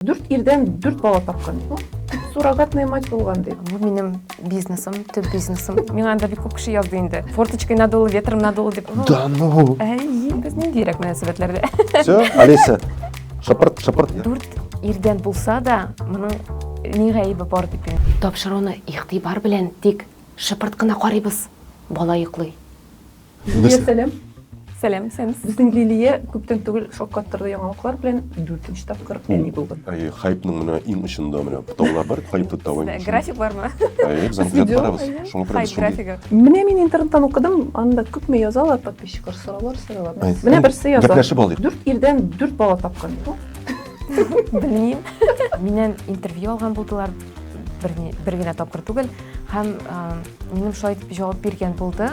Дүрт ирдән дүрт бала тапкан. Суррогатная мать булган ди. Бу минем бизнесым, төп бизнесым. Миңа анда бик күп кеше язды инде. Форточкой надуло, ветром надуло дип. Да ну. Әй, без ниндирәк мөнәсәбәтләрдә. Все, Алиса, шапырт, шапырт. Дүрт ирдән булса да, моның ни гаебе бар дип. Тапшыруны игътибар белән тик шыпырт кына карыйбыз. Бала йоклый. Лилия, сәлам. Сәлам, исәнмесез. Безнең Лилия күптән түгел шаккаттырды яңалыклар белән дүртенче тапкыр әни булды. Әйе, хайпның менә иң очында менә таулар бар, хайпы тауы. График бармы? Әйе, без аны күзәтеп барабыз. Шуңа күрә без графигы. Менә мин интернеттан укыдым, анда күпме язалар подписчиклар, сораулар сорыйлар. Менә берсе яза. Гәпләшеп алыйк. Дүрт ирдән дүрт бала тапкан. Белмим. Миннән интервью алган булдылар. бер, бер генә тапкыр түгел һәм ә, минем шулай итеп җавап биргән булды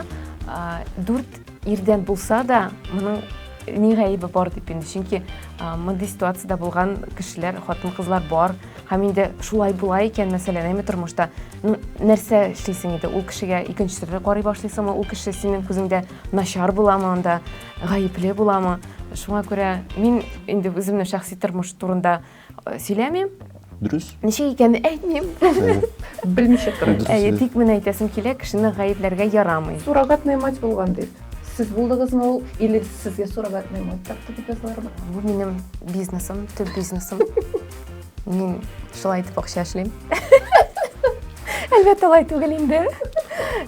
ә, дүрт ирдән булса да моның ни гаебе бар дип инде чөнки ә, мондый ситуацияда булган кешеләр хатын кызлар бар һәм инде шулай була икән мәсәлән әйме тормышта ну, нәрсә эшлисең инде ул кешегә икенче төрле карый башлыйсыңмы ул кеше синең күзеңдә начар буламы анда гаепле буламы шуңа күрә мин инде үземнең шәхси тормыш турында Сөйләмим. Дөрес. Ничек икәнен әйтмим. Белмичә торам. Әйе, тик мен әйтәсем килә, кешене гаепләргә ярамый. Суррогатная мать булган дип. Сез булдыгызмы ул или сезгә суррогатная мать тапты дип язалармы? Бу минем бизнесым, төп бизнесым. Мин шулай итеп акча эшлим. Әлбәттә, алай түгел инде.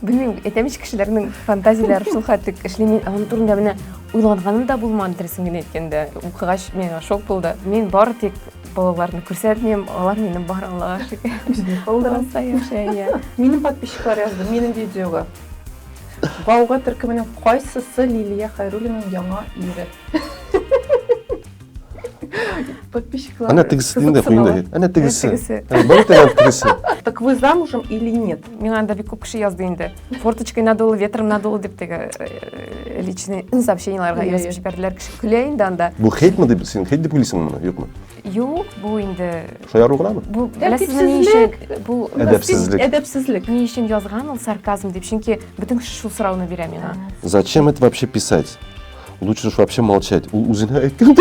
Белмим, әйтәм ич кешеләрнең фантазияләре шул хәтлек эшли. Мин аның турында менә Уйлаганым да булмады, дөресен генә әйткәндә. Укыгач, миңа шок булды. Мин бары тик балаларны күрсәтмим, алар мине бар Аллага шөкер. Булдыраса яшәй, иә. Минем подписчиклар язды, минем видеога. Бауга төркеменең кайсысы Лилия Хайруллинаның яңа ире? Подписчиклар. Әнә тегесе инде куенда. Әнә тегесе. Бар тегесе тегесе. Так вы замужем или нет? Миңа анда бик күп кеше язды инде. Форточкой надуло, ветром надуло дип теге э, личный сообщениеларга язып җибәрделәр кеше. Көлә инде анда. Бу хейтме дип син хейт дип уйлыйсың моны, юкмы? Юк, бу инде Шаяру гынамы? Бу беләсезме ни өчен? Бу әдәпсезлек. Әдәпсезлек. Ни өчен язган ул сарказм дип? Чөнки бөтен кеше шул сорауны бирә миңа. Зачем это вообще писать? Лучше уж вообще молчать. Ул үзенә әйткән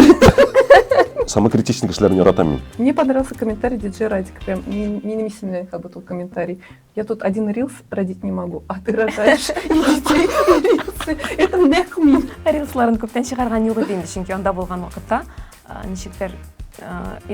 Самокритичный кешеләрне яратам мин. Мне понравился комментарий диджей Радик. Прям минем исемле как будто комментарий. Я тут один рилс родить не могу, а ты рожаешь Это нәкъ мин. Рилсларын күптән чыгарган юк иде инде, чөнки анда булган вакытта Ничектер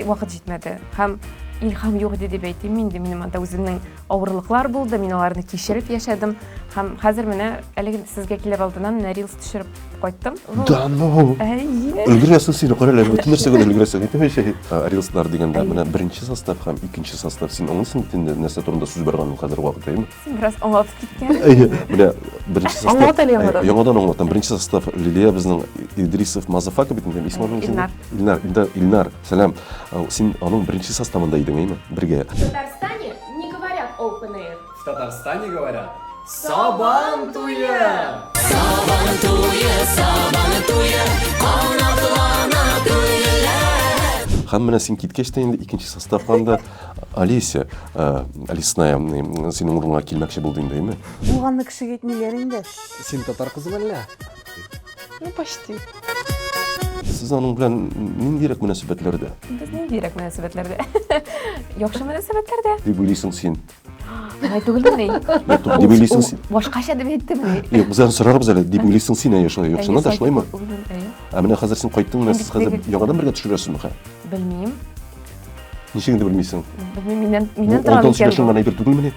вакыт җитмәде һәм илһам юк иде дип әйтим инде минем анда үземнең авырлыклар булды мин аларны кичереп яшәдем һәм хәзер менә әлеге сезгә килер алдыннан менә рилс төшереп кайттым да ну өлгерәсең син кара әле бөтен нәрсәгә өлгерәсең әйтәм шәһи рилслар дигәндә менә беренче состав һәм икенче состав син аңлыйсың бит инде нәрсә турында сүз барганын хәзер вакыт әйме Син бераз аңлатып киткән. Әйе, менә беренче состав. Аңлат әле яңадан. Әйе, Яңадан аңлатам. Беренче состав Лилия безнең Идрисов Мазафака бит инде. Исмы аның Илнар. Илнар, инде Илнар, сәлам. Ә, Син аның беренче составында идең, әйме? Бергә. В Татарстане не говорят open air. В Татарстане говорят Сабан туе! Һәм менә син киткәч тә инде икенче составка анда Олеся, Лесная, синең урынга килмәкче булды инде, әйме? Булганны кешегә әйтмиләр инде. Син татар кызы мәллә? Ну, почти. Сез аның белән ниндирәк мөнәсәбәтләрдә? Без ниндирәк мөнәсәбәтләрдә? Яхшы мөнәсәбәтләрдә. Дип уйлыйсың син. Алай түгелмени? Дип уйлыйсың син. Башкача дип әйттемени? Юк, без аны сорарбыз әле. Дип уйлыйсың син, әйе, шулай. Яхшына да шулаймы? Ә менә хәзер син кайттың, менә сез хәзер яңадан бергә төшерәсезме? Белмим. Ничек инде белмисең? Белмим, миннән миннән тора микән? 16 яшең гына әйбер түгелмени?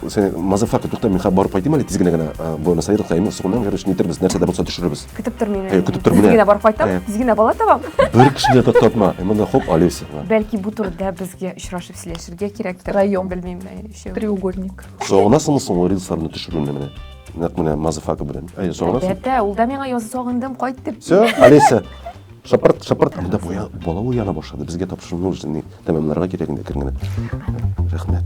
Сен мазафака тукта, мин хәзер барып кайтыйм әле тизгенә генә. Буэнос Айрес кайтыйм, сугыннан гәрәш нитербез, нәрсә дә булса төшерербез. Көтеп тор мине. Көтеп тор менә. Тизгенә барып кайтам, тизгенә бала табам. Бер кешене дә тотма. Монда хоп Олеся. Бәлки бу турыда безгә очрашып сөйләшергә кирәктер. Район белмим, өчәү. Треугольник. Сагынасыңмы соң ул рилсларны төшерүне менә? Нәкъ менә мазафака белән. Әйе, сагынасың. Әлбәттә, ул да миңа язды, сагындым, кайт дип. Все, Олеся. Шапырт, шапырт, анда буя, бала уяна башлады. Безгә тапшырылу уже ни тәмамларга кирәк инде кергәне. Рәхмәт.